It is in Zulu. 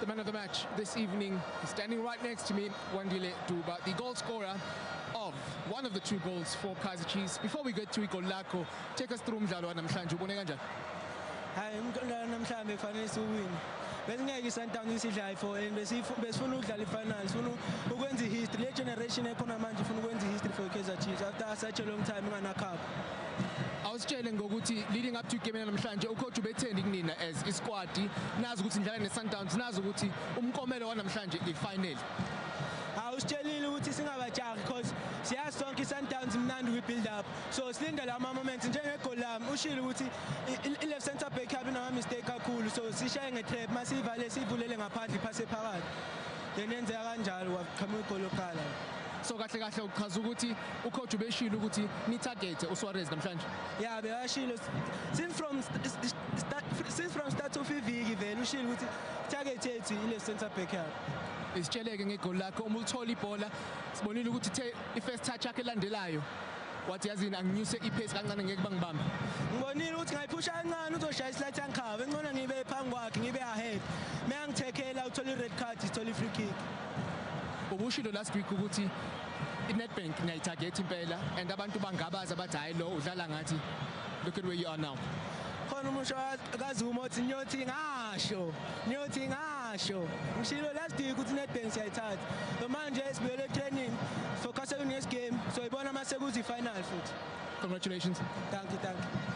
The man of the match this evening is standing right next to me, Wandile Duba, the goal scorer of one of the two goals for Kaizer Chiefs. Before we get to Igor Lako, take us through umdlalo wanamhlanje ubone kanjani? Hayi umdlalo namhlanje kufanele siwine. Besingeke iSundowns isidlale for and besifuna ukudlala ifinals, sifuna ukwenza ihistory. Le generation ekhona manje ifuna ukwenza ihistory for Kaizer Chiefs after such a long time ingana cup. awusitshele ngokuthi leading up to igame namhlanje ucoach ubetheni kunina as isquad nazi ukuthi nidlala neSundowns nazi ukuthi umkomelo wanamhlanje ifinal awusitshelile ukuthi singabajahi because siyazi sonke i-sundowns imnandi kwi-build up so silinde la ma-moment njengegoli lami ushile ukuthi i-left center back yabe inama-mistake kakhulu so sishaye nge-trap uma siyivale siyivulele ngaphandle iphase phakathi then yenzeka kanjalo waqhamuka igoli lokuqala so kahle kahle uchaza ukuthi Ucoach ubeshilo ukuthi ni target uSuarez namhlanje. Yeah, beyashilo since from start since from start of iviki vele ushilo ukuthi target yethu ile center back yakhe. Isitsheleke ngegoli lakho uma ulithola ibhola sibonile ukuthi the i-first touch yakhe elandelayo wathi yazini anginyuse i-pace kancane ngeke bangibambe ngibonile ukuthi ngayiphusha kancane uzoshaya isilathi yangikhava encono ngibe phambi kwakhe ngibe ahead meyangithekela uthole i-red card ithole i-free kick ubushilo last week ukuthi inetbank niyayithagetha impela and abantu bangabazi abathi hhayi lo udlala ngathi look at where you are now khona umusho kazuma othi ngiyothi ngasho ngiyothi ngasho ngishilo last week ukuthi inetbank siyayithatha so manje sibuyele training focusele next game so ibona uma sekuzi-final futhi congratulations thank you thank you